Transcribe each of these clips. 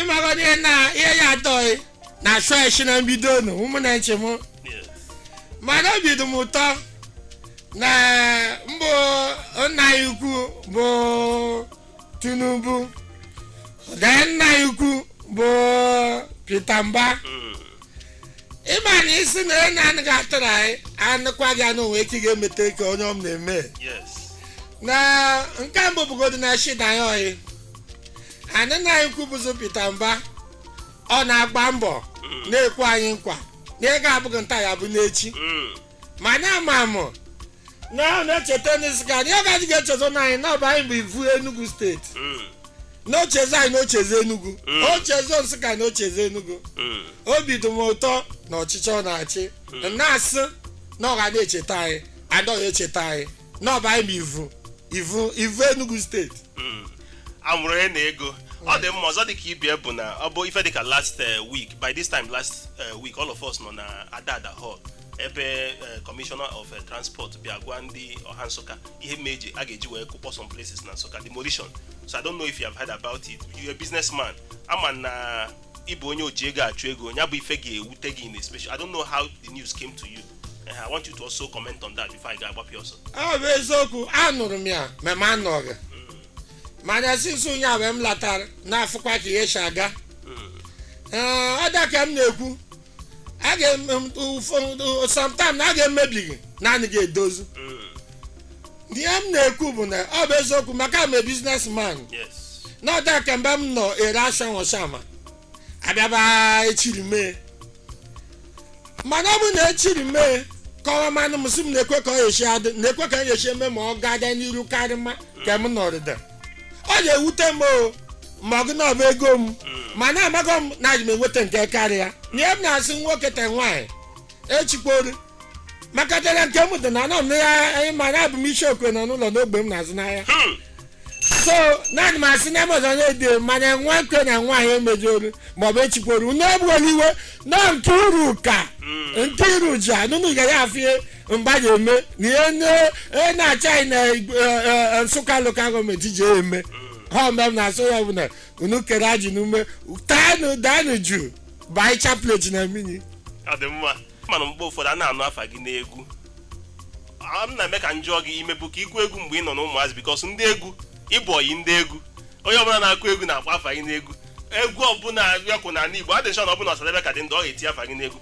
ịmagodị ihe na ihe ya atọghị na chọọchị na mbido nụ ụmụ na nche m mana obi dị m ụtọ na mbụ nna anyị ukwu bụ tinubu na nna anyị ukwu bụ peter mba ị ma na ị sị na onye anaghị atụrụ anyị anụkwa gị anụ nwee ike ị ga-emete ka onye ọma na-eme na nke mbụ bụgodo na shida ya oyi anyị nna anyị ukwu bụzụ Peter Mba ọ na-agba mbọ na-ekwe anyị nkwa na ego abụghị taa ya bụ n'echi Mm. mana ama mụ na ọ na-echeta Nsụka na ọ gaghị ga-echezọ na anyị na ọ bụ anyị bụ ivu Enugu steeti Mm. na o chezọ anyị na o chezọ Enugu Mm. o chezọ Nsụka na o chezọ Enugu Mm. obi dị m ụtọ na ọchịchị ọ na-achị na-asị na ọ ga na-echeta anyị adọghị echeta anyị na ọ bụ anyị bụ ivu ivu ivu enugu steeti Mm. amụrụ onye n'ego ọ dị mma ọzọ dịka ibe ya bụ na ọ bụ ife dịka last eh, week by this time last eh, week all of us nọ na adada hall ebe eh, commissioner of eh, transport bịa gwa ndị ọha nsụka ihe ma eji a ga-eji wee kụkpọ some places na nsụka demolition so i don't know if you have heard about it you're a businessman ama na ị bụ onye oji ego achụ ego ya bụ ife ga-ewute gị in a special I don't know how the news came to you Eh, I want you to also comment on that before ị ga-agbapụ ya ọsọ ọ bụ eziokwu anụrụ m ya ma m anọghị mana since ụnyaahụ mgbe m latara na-afụkwa ka ihe si aga Ee, ọ da ka m na-ekwu a ga-eme ụfọdụ sometimes na a ga-emebighị na a gaghị edozi ihe m na-ekwu bụ na ọ bụ eziokwu maka m a business man yes na ọ da ka mgbe m nọ ere ashanwụ shama abịaba echiri mee mana ọ bụ na echiri mee kọwa manụ m sị m nekwe ka ọ ya-eshi adị nekwe ka m ya-eshi eme ma ọ ga-aga n'iru karịma ka m nọrịda ọ ga-ewute m o ma ọ gụ na ọ bụ ego m mana amaghị m na e je m enweta nke karịa ihe m na-asị nwoke te nwaanyị echikporo maka dara nke m dị na anọ m na ya anyị ma na abụ m isi okwe nọ n'ụlọ n'ogbe m na-azụ n'ahịa Hmm. so naanị m asị na amazon na-ede mana nwoke na nwaanyị emejoro maọbụ echikporo unu ebuola iwe na nke iru ka nke iru ji anụnụ ga ya afie mgbe a ga-eme na ihe onye na-achị anyị na Igbo- eh, eh, eh, nsụka local government ji eme ha mgbe m na-asị ya bụ na unu kere ajị n'ume taanụ daanụ jụụ baa chaplet na mmiri ọ dị mma mana mgbe ụfọdụ a na-anụ afa gị n'egwu a m na-eme ka m jụọ gị i mebu ka ị kụ egwu mgbe ị nọ na ụmụazị because ndị egwu ị bụ ọyị ndị egwu onye ọbụla na-akụ egwu na-akpọ afa gị n'egwu egwu ọbụla a ya-akụ n'ala igbo adị m sure na ọ bụrụ na ọsadebe ka dị ndụ ọ ga-eti afa gị n'egwu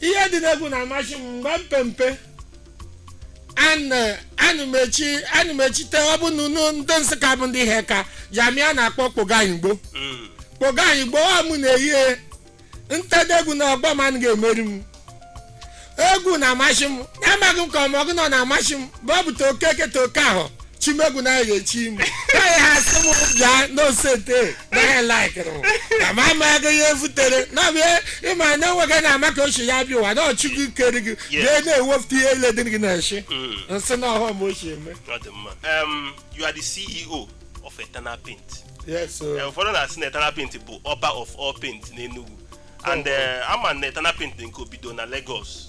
ihe dị n'egwu na-amasị m mgbe m pe mpe anụmechi anụmechite ọ bụ na unu ndị nsụka bụ ndị ihe ka jamia na-akpọ kpoganyigbo Mm. kpoganyigbo ọ mụ na-eyi ntede egwu na ọgbọ m anaghị emeri m egwu na-amasị m amaghị m ka ọmọgụ nọ na-amasị m bụ ọ bụ toke eke toke ahụ chimegwu na-ege chi m naghị ha sị m bịa n'osete naghị laikịrị na ma ama ego ihe efutere na bịa ịma na enweghị na ama ka ochie ya bịa ụwa na ọ Chukwu kere gị bịa na-ewepụta ihe ile dị gị n'ishi nsị na ọhụụ m ochie eme Ọ dị mma. Um, you are the CEO of Eternal Paint. yes o. Eh, ụfọdụ na-asị na Eternal Paint bụ ọba of all paint n'Enugu and eh, ama na Eternal Paint dị nke obido na Lagos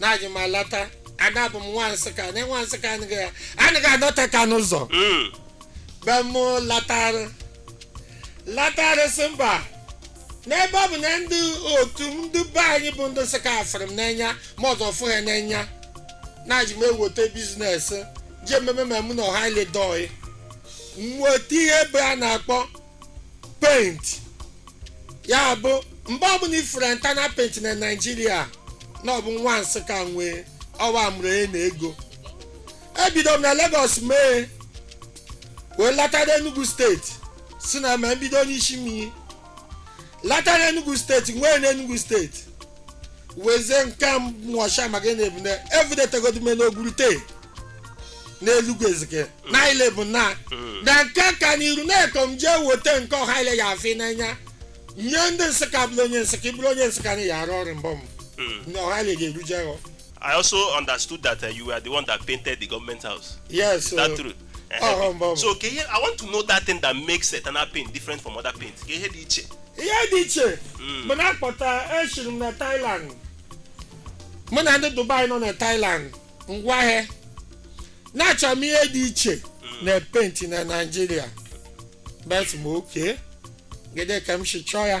na eji m alata ana abụ m nwa nsụka na nwa nsụka anaghị anaghị anọte aka n'ụzọ Mm. be m latarị latarị sị mba n'ebe ọ bụ na ndị otu ndị be anyị bụ ndị nsụka afụrụ m n'anya ma ọzọ fụ ha n'anya na eji m eweta biznes ji ememe ma mụ na ọha ile dọị nweta ihe ebe a na-akpọ paint ya bụ mgbe ọbụla ị fụrụ Eternal paint na naijiria na ọ bụ nwa nsụka nwee ọwa mụrụ e na ego ebido m na Lagos mee wee latara Enugu steeti si na ma mbido n'isi mmiri lata na enugu steeti nwee na enugu steeti wezie nke a mwasha maka ị na-ebu na evudetegodime n'ogurute n'elugu ezike na ile bụ na na nke ka n'iru na-ekom jee weta nke ọha ile ya afụ n'anya nye ndị nsụka bụrụ onye nsụka ị bụrụ onye nsụka na ya arụ ọrụ mbọ m na ọha ile ga-eruje ghọ I also understood that uh, you were the one that painted the government house. Yes. Is that uh, true? Uh-huh. Um, um, so, ke ihe, I want to know that thing that makes Eternal paint different from other paints. Ke ihe dị iche. Ihe dị iche. Hmm. Mụ na-akpọta eshiri m na Thailand. Mụ na ndị Dubai nọ na Thailand ngwa ahịa. Na-achọ m ihe dị iche hmm. na paint na Naịjirịa. Bet m oke. Gede ka m si chọọ ya.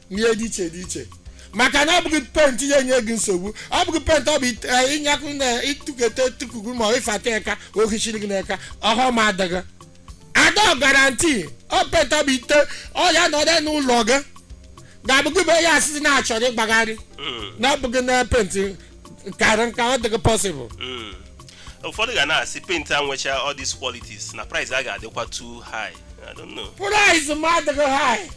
ihe dị iche dị iche maka na ọ bụghị paint ya enye gị nsogbu ọ bụghị paint ọ bụ ite- eh, ịnyakụ na ịtụketa tụkugu ma ịfata eka ohichiri gị n'eka ọhụm adịghị ada guarantee ọ paint ọ bụ i te ọ ya nọdụ n'ụlọ gị ga-abụghị bụ ya asịsị na-achọrọ ịgbagharị na ọ bụghị na paint kara nka ọ dịghị possible Mm. ụfọdụ ga na-asị paint a nwecha all these qualities na price a ga-adịkwa too high i don't know price m adịghị high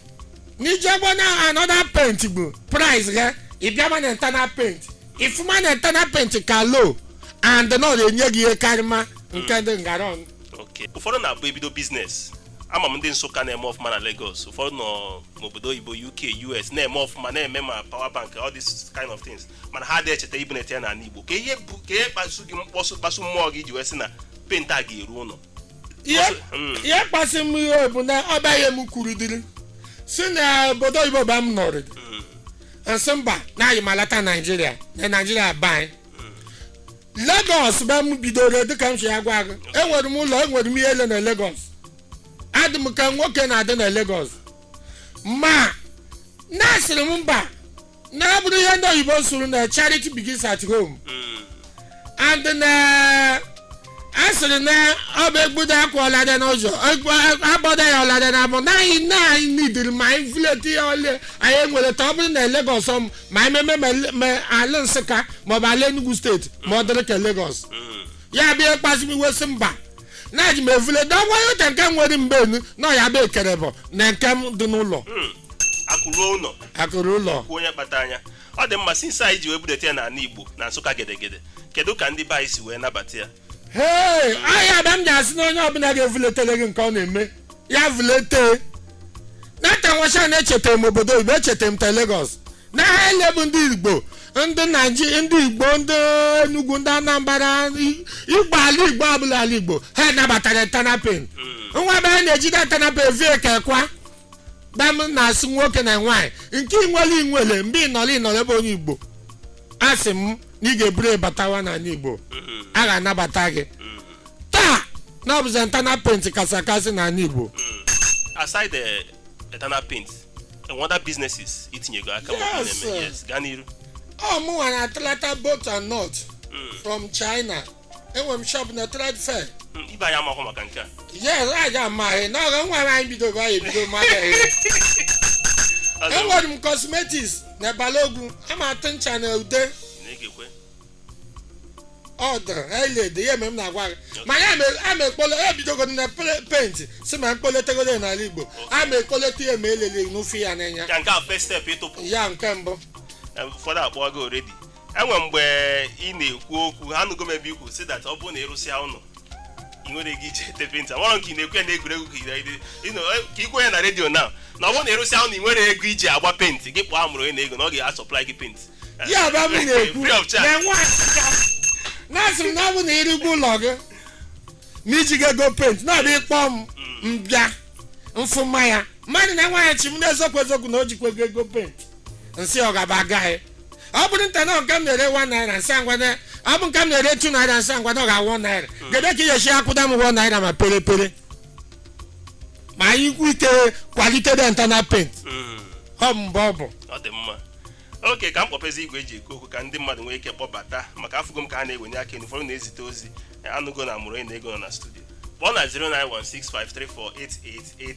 n'ijegbo na another paint bụ price ghe ịbịama na internal paint ị fụma na internal paint ka low and na ọ na-enye gị ihe karịma nke ndị ngara ọnụ Okay. ụfọdụ na-abụ e bido business ama m ndị Nsụka na-eme ọfụma na Lagos ụfọdụ nọ n'obodo oyibo UK US na-eme ọfụma na-eme ma power bank all these kind of things mana ha adịghị echeta ibunete ya n'ala Igbo ka ihe bụ ka ihe kpasu gị mkpọsụ kpasu mmụọ gị ji wee sị na paint a ga-eru ụlọ ihe Mm. ihe kpasị m iwe bụ na ọ baghị m kwuru dịrị si na obodo oyibo ba m nọrị Mm. m sị mba na anyị malata Naijiria na Naijiria ba anyị Lagos ba m bidoro dịka m si ya gwa gị enwere m ụlọ enwere m ihe ele na Lagos adị m ka nwoke na-adị na Lagos mana asịrị m mba na ọ bụrụ ihe ndị oyibo sụrụ na charity begins at home Mm. and na a sịrị na ọ bụ egbudo akwa ọlada n'ụzọ egbu- agbada ya ọlada na abụ naghị na anyị nidiri ma anyị vuleti ya ole anyị nwere ta ọ bụrụ na Lagos ọ m- ma anyị meme ma ele- ma ala Nsụka maọbụ ala Enugu steeti ma ọ dịrị ka Lagos Mm. ya bịa ịkpasị m iwe sị mba na ji m evule da nwa ya ka nke nwere mgbe enu na ọ ya bụ ekere bụ na nke m dị n'ụlọ Hmm. akụ ruo ụlọ akụ ruo ụlọ kwuo onye kpatara ya ọ dị mma since anyị ji wee budata ya n'ala Igbo na Nsụka gedegede kedu ka ndị be anyị si wee nabata ya hei ọ ya ba m ji asị na onye ọbụla ga-evuletere gị nke ọ na-eme ya vulete nata nwasha na-echeta m obodo oyibo echeta m ta Lagos na ha ele bụ ndị Igbo ndị Naijiria ndị Igbo ndị Enugwu ndị Anambra i- Igbo ala Igbo ọbụla ala Igbo ha nabatara internal paint nwa ebe ha na-ejide internal paint vie ka kwa dam na-asị nwoke na nwaanyị nke inwele inwele mgbe ị nọrọ ị nọrọ ebe onye Igbo asị m na ị ga-eburu batawa n'ala Igbo a ga-anabata gị taa na ọ bụzi internal paint kasị akasị n'ala Igbo aside the internal paint and other businesses itinyego aka ma ọ bụ Yes, na-eme sir. yes gaa n'iru ọ mụnwa na Atlanta bolt and nut from China enwere m shop na Trade Fair Mm, ibe anyị amahụ maka nke a yes anyị amaghị na ọga nwa anyị bidogo anyị bido mmadụ Ọzọ, enwere m cosmetics na Balogun ịma atụ ncha na ude na-egekwe ọ dịrị eled ya mere m na-agwa gị ma ya mere a ma ekpole ya bidogo na pe- paint si ma mkpoletegoro ya n'ala Igbo a ma ekpolete ya ma elele n'ofe ya n'anya ya nke a first step ịtụpụ ya nke mbụ Eh, ụfọdụ akpọọ gị already enwe mgbe ị na-ekwu okwu ha nụgo m ebe i kwu sị that ọ bụrụ na ị rụsịa ụlọ ị nwere ike iji ete penti e nwere nke ị na-ekwu ya na egwuregwu ka ide ide ịnọ ka ikwe ya na redio na na ọ bụrụ na ị rụsịa ụnọ na i nwero ego iji agba penti gị kpọọ amụrụ onye na ego na ọ ga-asọplai gị penti ya bụ abụ na-ekwu Free of charge. na-enwe achịcha na-asị m na ọ bụ na ị rụgo ụlọ gị na i jighị ego penti na-abịa ịkpọ m m bịa m fụ mmanya mmadụ na-enweghị chi m n'eziokwu eziokwu na o jikwa ego ego penti m sị ọ gaba agaghị ọ bụrụ nta na nke m na-ere one naira m sị ngwa na ọ bụ nke m na-ere two naira m sị ngwa na ọ ga-awụ one naira gede ka ị ga-esi akwụda m one naira ma pere pere ma anyị kwu ike quality dị na eternal paint Mm. ọ mgbe ọ bụ ọ dị mma okay ka m kpọpezi igwe e ji ekwu okwu ka ndị mmadụ nwee ike kpọbata maka afụgo m ka ha na-ewenye aka enu ụfọdụ na-ezite ozi anụgo na amụrụ onye na ego nọ na studio kpọọ na 091653488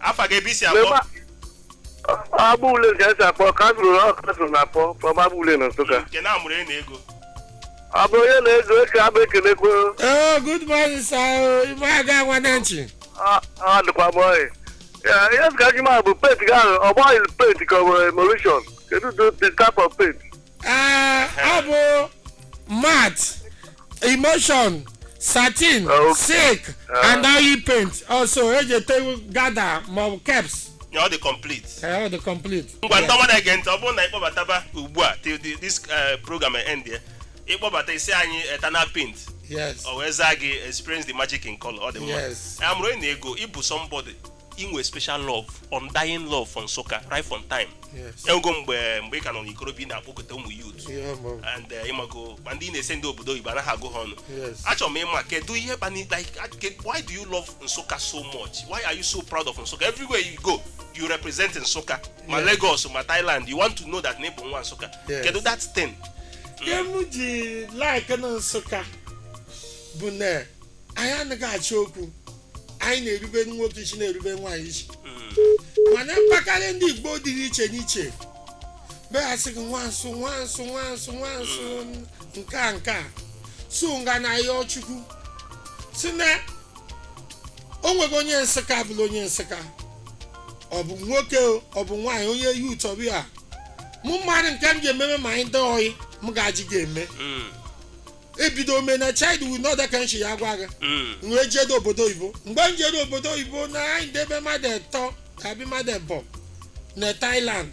afa gị ebe i si akpọ Mema- Agba ule nke esi akpọ ka a zụrụ ọkụ a zụrụ na akpọ from agba ule na Nsụka. nke na amụrụ onye na ego amụrụ onye na ego eke abụ ekelekwe Oh, good morning, sir. I me aga nwanne nchi. ọ dịkwa m oyi. Ya, Ihe sị ka gị ma bụ paint gị ahụ ọ gbaghị paint ka ọ bụ emulsion. Kedu the type of paint? Ee, ọ bụ matte emulsion satin Okay. silk Ah. and oil paint also e ji ete gada maọbụ caps ya ọ dị complete ee ọ dị complete ngwa ndị ọma na-ege ntị ọ bụrụ na ị kpọbataba ugbu a till the- this eh, program end ya ị kpọbata ị sị anyị eternal paint yes ọ wee zaa gị experience the magic in color ọ dị mma Yes. amụrụ onye na ego ị bụ somebody i nwe special love undying love for nsụka right from time Yes. enwego mgbe mgbe ị ka nọ n'ikorobịa ị na-akpọkọta ụmụ youth Yeah, mom. and eh, ị mago ma ndị ị na-ese ndị obodo oyibo anaghị agụ ha ọnụ Yes. achọrọ m ịma kedu ihe kpani like a- ke- why do you love nsụka so much why are you so proud of nsụka everywhere you go you represent nsụka ma Yes. lagos ma thailand you want to know that na ị bụ nwa nsụka Yes. kedu that thing ihe m ji like na nsụka bụ na anyị anaghị achọ okwu anyị na-erube nwoke isi na-erube nwaanyị isi mana mpakarị ndị igbo dị iche n'iche bịa sị gị nwa nsụ nwa nsụ nwa nsụ nwa nsụ nke a nke a so m ga na-ayọ chukwu sị na o nwego onye nsụka bụla onye nsụka ọ bụ nwoke o, ọ bụ nwaanyị onye youth ọ bịa mụ mara nke m ga-ememe ma anyị dị oyi m ga-ajị ga-eme ebido ome na child will not that kind ya agwa gị Mm. wee jedo obodo oyibo mgbe m jere obodo oyibo na anyị debe mmadụ etọ abi mmadụ ebọ na Thailand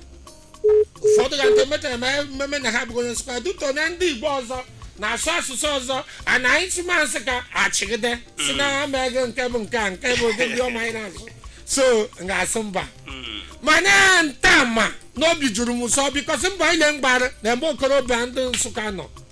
ụfọdụ ga ndị metara ma mmemme na ha bụrụ onye nsụka dutọ na ndị Igbo ọzọ na-asụ asụsụ ọzọ a na anyị si ma nsụka achịgide si na ha mee gị nke bụ nke a nke bụ ụdị ndị ọma anyị na-asụ so m ga-asụ mba Mm. mana nta ma n'obi juru m ụsọ because mba anyị na-engbara na mgbe okorobịa ndị nsụka nọ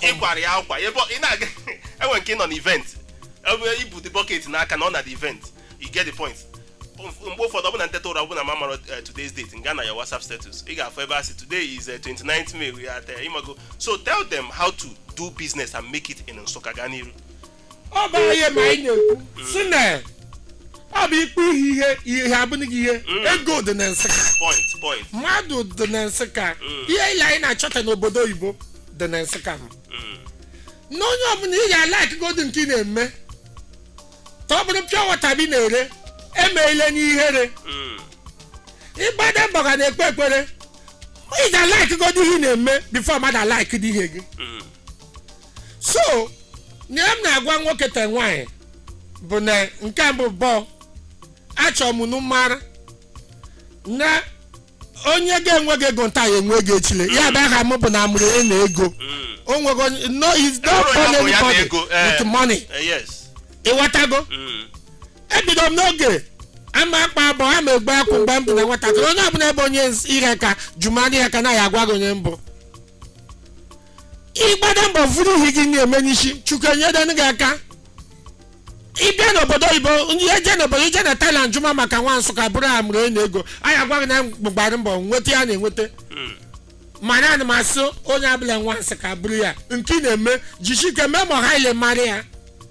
ịkwara ya akwa ebe ọ- ị na-aga enwe nke ị nọ na event ebe i bu the bucket n'aka nọ na the event you get the point Mf- mgbe ụfọdụ ọbụna m teta ụra ọbụna m amarọ eh, today's date m gaa na your whatsapp status ị ga-afụ ebe a sị today is eh, 29th may we are there ịmago so tell them how to do business and make it in nsụka gaa n'iru ọ bụ anyị ma anyị na-ekwu sị na ọ bụ ikpe ihe ihe ihe abụghị gị ihe ego dị na nsụka point point mmadụ dị na nsụka ihe ile anyị na-achọta n'obodo oyibo dị na nsụka mana onye ọbụla ị ga-alike godu nke ị na-eme ka ọ bụrụ pure water bụ ị na-ere emeela n'ihere ịgbada mbọ ga na-ekpe ekpere ị ga-alike godu ihe ị na-eme before mmadụ alike dị ihe gị so na ihe m na-agwa nwoke te nwaanyị bụ na nke mbụ bụ achọrọ m unu mara na onye ga-enwegị ego taa ya enwegị echile ya bụ aha m bụ na amụrụ onye na ego Mm. o nwego onye- no is not Enwere onye bụ ya na anybody ego, eh. with money Eh, yes ị wọtago Mm. ebido m n'oge ama m akpa abọ ama m egbu akwụ mgbe m dị na nwatakịrị onye ọbụla bụ onye iheaka jụma n'iheaka na ya agwa gị onye m bụ ị gbada mbọ vuru ihe gị na-eme n'isi chukwu enyedenu gị aka ị bịa n'obodo oyibo ndị eje n'obodo i je na Thailand jụma maka nwa nsụka bụrụ amụrụ onye na ego a ya-agwa gị na m gbara mbọ nweta ihe m na-enweta mana ana m asị onye ọbụla nwa nsụka bụrụ ya nke ị na-eme jisi ike mee ma ọha ile mara ya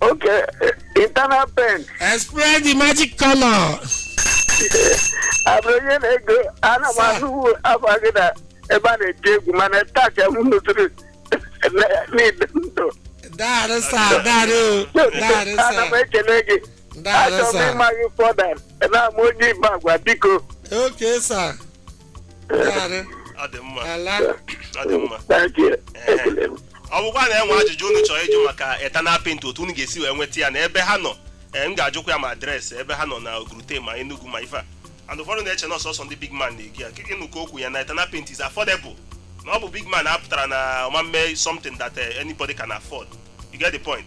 okay eh, eternal paint Express the magic color. amụrụ onye na ego ana m Sir. anụ afa gị na ebe a na-eti egwu mana taa ka m nụtụrụ n'ide ndụ Daarụ sa, daarụ, daarụ ana m sa, ekele gị daarụ achọrọ m sa. ịma gị further na ama onye ị bụ gwa biko Okay, sir. Daalụ. ọ dị mma Ala. ọ dị mma Thank you. Ekele m. ọ bụkwa na enwe ajụjụ unu chọrọ ịjụ maka eternal paint otu unu ga-esi wee nweta ya na ebe ha nọ ee, m ga-ajụkwa ya ma adreesị ebe ha nọ na ogurute ma enugu ma ife a and ụfọdụ na-eche na ọ sọsọ ndị big man na-eji ya kịkị nụ ka okwu ya na eternal paint is affordable na ọ bụ big man apụtarọ na ọ ma-eme something that eh, anybody can afford you get the point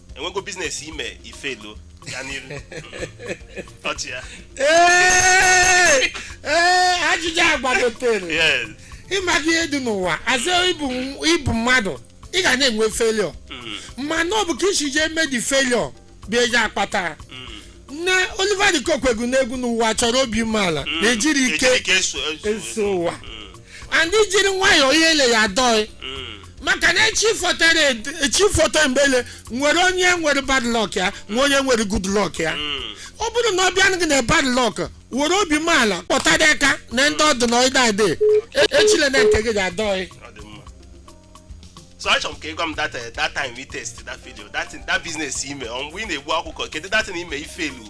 enwego business i me i fail ya n'iru ọchị ya Ee, ee, ajụjụ a gbagotere Yes. ịma gị ihe dị n'ụwa as ị bụ ị bụ mmadụ ị ga na-enwe failure mana ọ bụ ka i si jee mee the failure bụ eji akpata na Oliver de Coque gụ n'egwu na ụwa chọrọ obi umeala na ejiri ike Ejiri ike eso- eso- eso ụwa and i jiri nwayọọ ihe ile ya adọị Mm. maka na echi fotere echi foto mgbele nwere onye nwere bad luck ya nwe onye nwere good luck ya ọ bụrụ na ọ bịa gị na bad luck were obi umeala kpọta dị aka na ndị ọdụ na ọdị adị echile na nke gị ga-adọghị ọ dị mma so achọrọ m ka ị gwa m that eh, that time we test that video that thing- that business i me ọ mgbe ị na-agụ akwụkwọ kedu that thing ime ifelu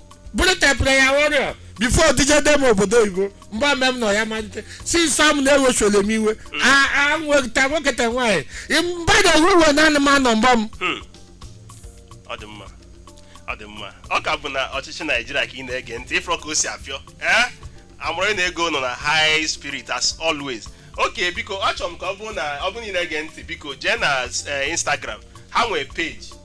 bụrụ te prayer warrior before dije dem obodo oyibo mgbe ame m nọ ya malite si sam na-ewechole m iwe A- a nweta nwoke ta nwaanyị mba na ewu iwe naanị m anọ mgba m Hmm. ọ dị mma ọ dị mma ọ ka bụ na ọchịchị naijiria ka ị na-ege ntị ị fụrọ ka o si afịọ ee Amụrụ onye na ego nọ na high spirit as always okay biko achọrọ m ka ọ bụrụ na ọ bụrụ na ị na-ege ntị biko jee na eh, instagram ha nwee page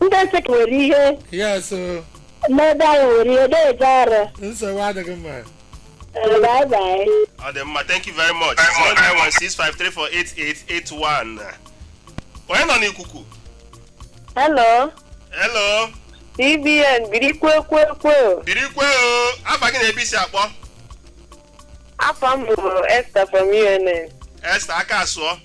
ndị Nsụka nwere ihe yes o n'ebe anyị nwere ihe na-eje ọrụ nsogbu adịghị mma Ee, bye bye. ọ dị mma thank you very much 09165348881 onye nọ n'ikuku Hello, hello CBN biri kwe kwe kwe. biri kwe o afa gị na ebe i si akpọ Afa m bụ Esther from UNN. Esther aka asụọ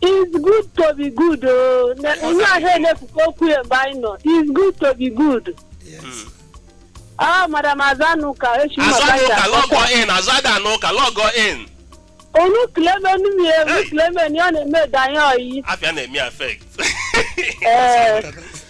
It's good to be good. oh. Na- Onye ahụ elepụkwa okwu ya mgbe anyị nọ. It's good to be good. Yes. Ah, Madam Azụanụka echi azụ maka anụ ya. ụka log in azụ ada anụ ụka log in Onu kileme onu mi ewu Hey. kileme ni ọ na-eme danye oyi. afịa na-eme affect Ee,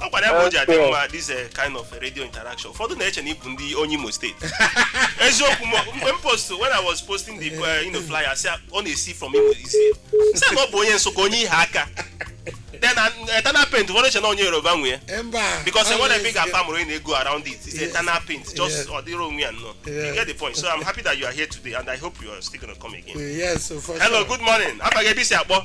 ọ gwara ya bụ o ji adị Okay. mma this eh, kind of eh, radio interaction ụfọdụ na-eche na ị bụ ndị onye Imo State eziokwu m mgbe m post when i was posting the eh, you know, flyer sị ọ na-esi from imo isi sị na ọ bụ onye nsụka onye Iheaka then an- eternal paint ụfọdụ eche na onye yoruba nwe ya mba because ọ enwere ebe ị na-esi- ga-afụ Amụrụ onye na ego around it is eternal paint just Yeah. ọ dịrị onwe ya nnọọ you Yeah. get the point so i'm happy that you are here today and i hope you are still gonna come again yes for hello sure. good morning afa gị ebe i si akpọ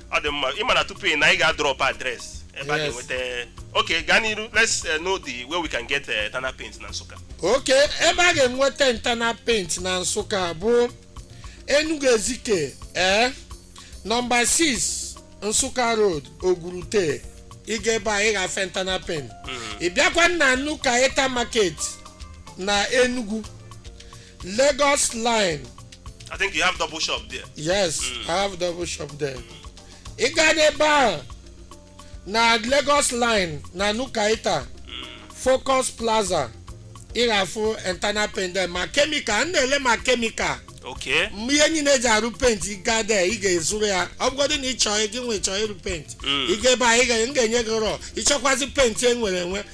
ọ dị mma ị ma na tupu ị na anyị ga-adrop address ebe a Yes. ga-enweta okay gaa n'iru let's eh, know the way we can get eh, tana paint na nsụka okay ebe a ga-enweta internal paint na nsụka bụ enugu ezike ee nọmba 6 nsụka road Ogurute ị gaa ebe a ị ga-afụ internal paint ị bịakwa na New Kenyatta market na enugu Lagos line. I think you have double shop there. Yes, mm. I have double shop there. Ị gaa n'ebe ahụ na Lagos line na New Kenyatta Focus Plaza ị ga-afụ internal paint there ma chemical m na-ele ma chemical Okay. mgbe ihe niile e ji arụ paint ị gaa there ị ga-azụrụ ya ọ bụgodị na ị chọọ gị nwa chọọ ịrụ paint Mm. ị ga ebe a ị ga- m ga-enye gị raw ị chọkwazị paint e nwere enwe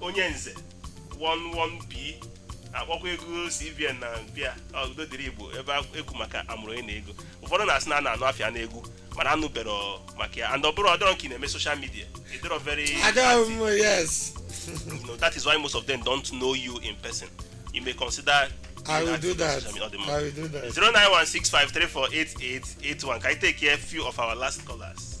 onye nze 11B akpọkwa ego CBN na bịa ọ, udo dịrị Igbo ebe a- ekwu maka amụrụ onye na ego ụfọdụ na-asị na a na-anụ afa ya na egwu mana anụbero maka ya and ọ bụrụ ọdọrọ nke ị na-eme social media ị dịrọ very Agaghị m yes. you know, that is why most of them don't know you in person. You may consider. I will do that. I will do that. 09165348881. Can I take a few of our last callers?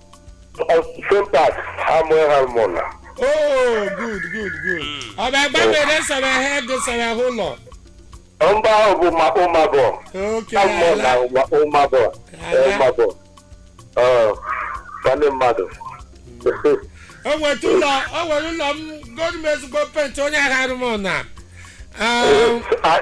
Sentak Samuel Harmona. oh good good good ọ bụ agba mere sara ha ego sara ha ụlọ Mba ahụ bụ ma Ụmagọ. oke Samuel na ala Ụma- Ụmagọ. Ala. Ụmagọ. Ọ, Nwanne mmadụ. o nweta ụlọ o nwere ụlọ m gọọmenti ezigbo paint onye agha arụmụ na Ah,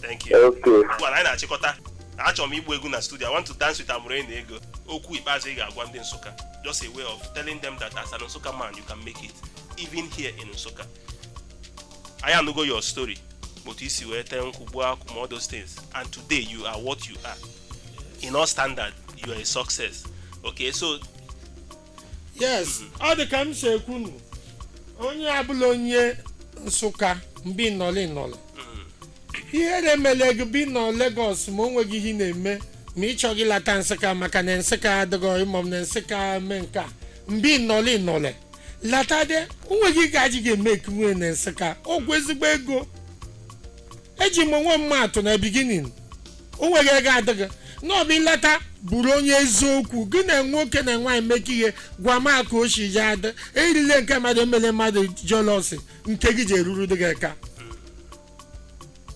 thank you Okay. Ugbu a, anyị na-achịkọta achọrọ m ịgba egwu na studio i want to dance with amụrụ onye na ego okwu ikpeazụ ị ga-agwa ndị Nsukka just a way of telling them that as an Nsukka man you can make it even here in Nsukka anyị anụgo your story otu i si wee tee nkwụ gbuo akwụ ma all those things and today you are what you are in all standard you are a success okay so yes ọ dị ka m si ekwu nụ onye abụla onye Nsukka mbe ị nọle ị nọle ihere emele gị bụ ị nọ Lagos ma o nweghị ihe ị na-eme ma ị chọghị ịlata Nsukka maka na Nsukka adịghị ịmọ m na Nsukka mee nke a mbe ị nọle ị nọle lata de o nweghị gaji ga-eme ekwuwe na Nsukka ọgwụ ezigbo ego eji m onwe m atụ na beginning o nweghị ego adịghị na ọ bụ ịlata bụrụ onye eziokwu gị na nwoke na nwaanyị mekọ ihe gwa m aka oshi ji adị erile nke mmadụ emele mmadụ jealousy nke gị ji eruru dị gị ka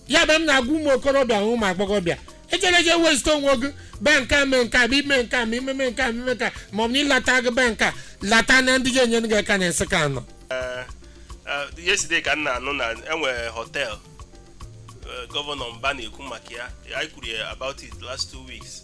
ya bụ m na-agwa ụmụ okorobịa na ụmụ agbọghọbịa ejere je waste onwe gị be nke a mee nke a bụ ime nke a ma imeme nke a ma ime nke a ma ọ bụ na ịlata gị be nke a lata na ndị ji enyere gị aka na Nsukka anọ Ah, yesterday ka m na-anụ na e nwere hotel eh, Governor Mba na-ekwu maka ya anyị kwuru ya about it last two weeks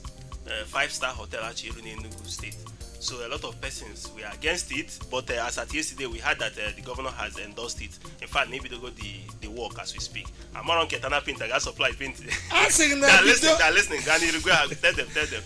eh, five star hotel a chọ ịrụ n'Enugu State so a lot of persons were against it but eh, as at yesterday we heard that eh, the governor has endorsed it in fact na ebidogo the the work as we speak amụrụ onye cheta na paint ga supply paint a sị gị na They are bido listening, they are listening. Gaa n'iru, gwa ha, tell them, tell them.